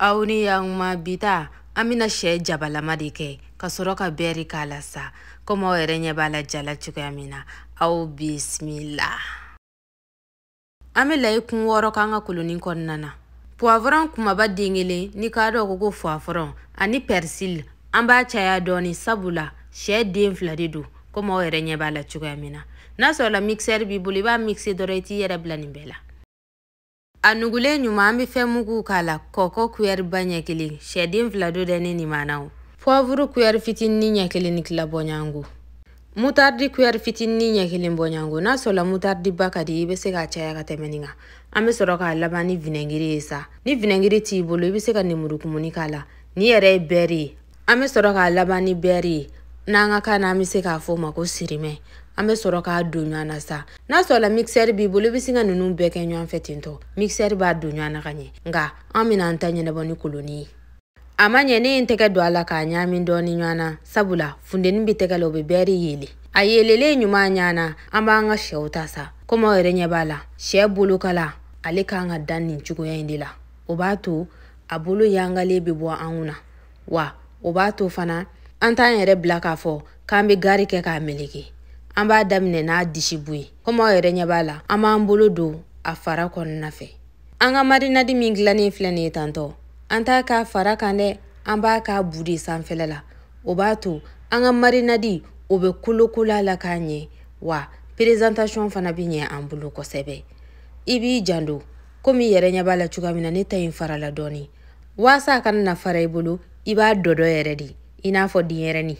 aw ni yanuma bi ta an bɛna sɛ jabalama de kɛ ka sɔrɔ ka bɛri k'a la sa komi aw yɛrɛ ɲɛ b'a la ja la cogoya min na aw bisimila an bɛ layi kun wɔɔrɔ k'an ka kolonin kɔnɔna na puwavɔrɔn kumaba den kelen ni k'a dɔn ko ko fuwafɔrɔn ani pɛrisili an b'a caya dɔɔni sabula sɛ den fila de don komi aw yɛrɛ ɲɛ b'a la cogoya min na n'a sɔrɔla mikisɛri b'i bolo i b'a mikise dɔrɔn i t'i yɛrɛ bila nin bɛɛ la A nugulen ɲuman an bɛ fɛn mugu k'a la kɔkɔ kuyɛri ba ɲɛ kelen sɛ den fila don dɛ ne nimana o puwavuru kuyɛri fitinin ɲɛ kelen ni tila bɔɲango mutaridi kuyɛri fitinin ɲɛ kelen bɔɲango n'a sɔrɔla mutaridi ba ka di i bɛ se k'a caya ka tɛmɛ nin kan an bɛ sɔrɔ k'a laban ni vinɛgiri ye sa ni vinɛgiri t'i bolo i bɛ se ka nemurukumuni k'a la nin yɛrɛ ye bɛɛri ye an bɛ sɔrɔ k'a laban ni bɛɛri ye n'an ka kan na an bɛ se k'a fɔ o ma ko sirimɛ an bɛ sɔrɔ k'a don ɲɔgɔn na sa n'a sɔrɔla mikisɛri b'i bolo i bɛ se ka ninnu bɛɛ kɛ ɲɔgɔn fɛ ten dɔ mikisɛri b'a don ɲɔgɔn na ka ɲɛ nka an bɛna an ta ɲɛnabɔ ni koloni ye a ma ɲɛ ne ye n tɛgɛ don a la k'a ɲaami dɔɔni ɲɔgɔn na sabula funteni bɛ tɛgɛ la o bɛ bɛɛri yeele a yeelelen ɲuman ɲɔgɔn na an b'an ka sɛw ta sa komi aw yɛrɛ ɲɛ b'a la sɛ bolokala ale kan ka dan nin cogoya in de la o b'a to a bolo yangalen bɛ bɔ an kun na wa o b'a to fana an t'an yɛrɛ bila k'a fɔ k'an bɛ gari kɛ k'a meleke an b'a daminɛ n'a disibu ye komi aw yɛrɛ ɲɛ b'a la an b'an bolo don a fara kɔnɔna fɛ an ka marinadi min dilannen filɛ nin ye tan dɔ an t'a k'a fara kan dɛ an b'a k'a bu de sanfɛla la o b'a to an ka marinadi o bɛ kolokolo a la ka ɲɛ wa perezantasiɔn fana bɛ ɲɛ an bolo kosɛbɛ i b'i jando komi i yɛrɛ ɲɛ b'a la cogoya min na ne ta in farala dɔɔnin waasa a kana na fara i bolo i b'a dɔdɔ yɛrɛ de i n'a fɔ denyɛrɛni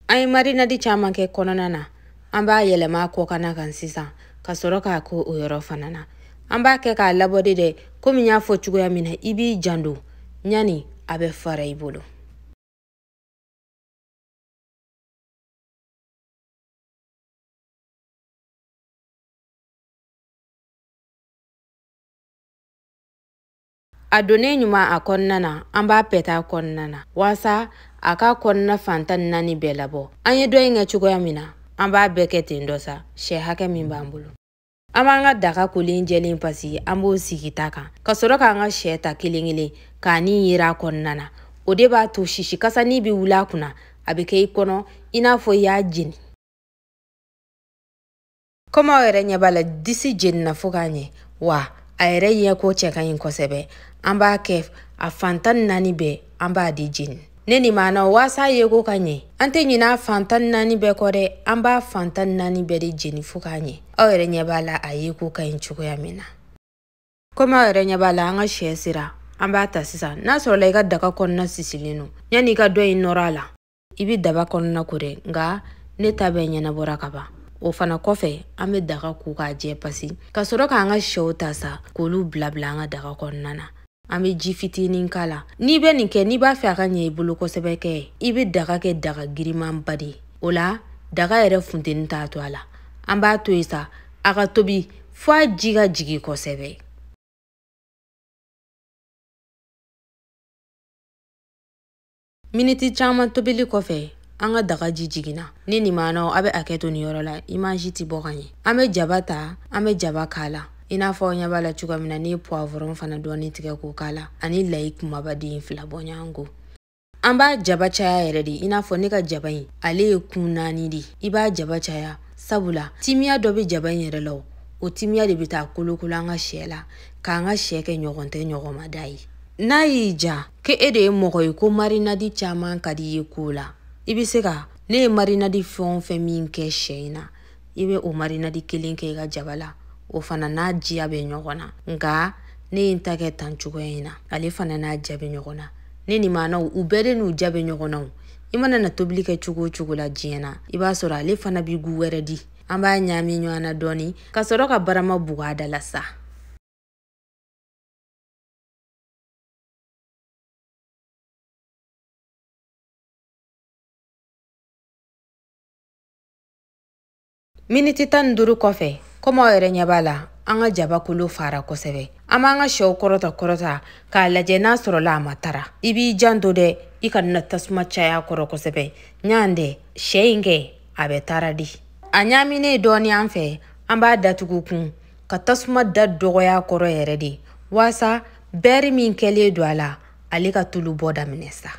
an ye marinadi caman kɛ kɔnɔna na an b'a yɛlɛma a kɔkana kan sisan ka sɔrɔ k'a kɛ o yɔrɔ fana na an b'a kɛ k'a labɔ de dɛ komi n y'a fɔ cogoya min na i b'i jando yani a bɛ fara i bolo a donnen ɲuman a kɔnɔna na an b'a pɛtɛ a kɔnɔna na walasa a ka kɔnɔna fan tan ni naani bɛɛ labɔ an ye dɔ in kɛ cogoya min na an b'a bɛɛ kɛ ten dɔ sa sɛ hakɛ min b'an bolo an b'an ka daga kolen jɛlen pasi an b'o sigi ta kan ka sɔrɔ k'an ka sɛ ta kelen kelen ka nin yiran a kɔnɔna na o de b'a to sisi kasani bɛ wuli a kunna a bɛ kɛ i kɔnɔ i n'a fɔ i y'a jeni komi aw yɛrɛ ɲɛ b'a la disi jenina fo k'a ɲɛ wa a yɛrɛ ɲɛ ko cɛ ka ɲi kosɛbɛ an b'a kɛ a fan tan ni naani bɛɛ an b'a di jeni ne ni maana waasa a yeko ka ɲɛ an tɛ ɲina a fan tan ni naani bɛɛ kɔ dɛ an b'a fan tan ni naani bɛɛ de jeni fo k'a ɲɛ aw yɛrɛ ɲɛ b'a la a yeko ka ɲi cogoya min na komi aw yɛrɛ ɲɛ b'a la an ka sɛ sera an b'a ta sisan n'a sɔrɔla i ka daga kɔnɔna sisilen don yanni i ka dɔ in nɔrɔ a la i bɛ daga kɔnɔna ko dɛ nka ne ta bɛɛ ɲɛnabɔra ka ban o fana kɔfɛ an bɛ daga ko k'a jɛ pasi ka sɔrɔ k'an ka sɛw ta sa k'olu bilabila an ka daga kɔnɔna na an bɛ ji fitinin k'a la n'i bɛ nin kɛ n'i b'a fɛ a ka ɲɛ i bolo kosɛbɛ kɛ i bɛ daga kɛ daga girimanba de o la daga yɛrɛ funteni t'a to a la an b'a to yen sa a ka tobi fo a ji ka jigin kosɛbɛ miniti caman tobili kɔfɛ an ka daga ji jiginna ne ni maanaw a bɛ hakɛ to nin yɔrɔ la imaji tɛ bɔ ka ɲɛ an bɛ jaba ta an bɛ jaba k'a la i n'a fɔ aw ɲɛ b'a la cogoya min na ne ye puwavɔrɔn fana dɔɔni tigɛ k'o k'a la ani layi kumaba den fila bɔ ɲɔgɔn ko an b'a jaba caya yɛrɛ de i n'a fɔ ne ka jaba in ale ye kun naani de i b'a jaba caya sabula timiya dɔ bɛ jaba in yɛrɛ la o timiya de bɛ taa kolokolo an ka sɛ la k'an ka sɛ kɛ ɲɔgɔn tɛ ɲɔgɔnmada ye n'a y'i ja kɛ e de ye mɔgɔ ye ko marinadi caman ka di i ye ko la i bɛ se ka ne ye marinadi fɛn o fɛn min kɛ sɛ in na i bɛ o marinadi kelen kɛ i ka jaba la o fana n'a diya bɛ ɲɔgɔn na nka ne ye n ta kɛ tan cogoya in na ale fana n'a ja bɛ ɲɔgɔn na ne ni maanaw u bɛɛ de n'u ja bɛ ɲɔgɔn na o i mana na tobili kɛ cogo o cogo la diɲɛ na i b'a sɔrɔ ale fana bɛ gu wɛrɛ di an b'a ɲaami ɲɔgɔn na dɔɔni ka sɔrɔ ka barama bugu a da la sa miniti tan ni duuru kɔfɛ komi aw yɛrɛ ɲɛ b'a la an ka jaba kolo fara kosɛbɛ an b'an ka sɛw kɔrɔta kɔrɔta k'a lajɛ n'a sɔrɔla a ma tara i b'i janto dɛ i kana tasuma caya kɔrɔ kosɛbɛ yan dɛ sɛ in kɛ a bɛ tara di a ɲaaminen dɔɔni an fɛ an b'a datugu kun ka tasuma da dɔgɔya kɔrɔ yɛrɛ de waasa bɛri min kɛlen don a la ale ka tulu bɔ daminɛ sa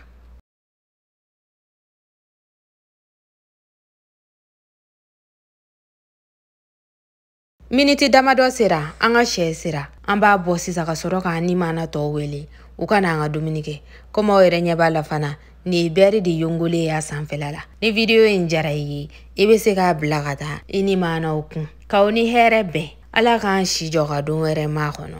miniti damadɔ sera an ka sɛ sera an b'a bɔ sisan ka sɔrɔ k'an ni maana tɔw wele u ka na an ka dumuni kɛ komi aw yɛrɛ ɲɛ b'a la fana nin bɛri de yongolen y'a sanfɛla la ni vidiyo in jara i ye i bɛ se k'a bila ka taa i ni maanaw kun k'aw ni hɛrɛ bɛn ala k'an si jɔ ka don wɛrɛ makɔnɔ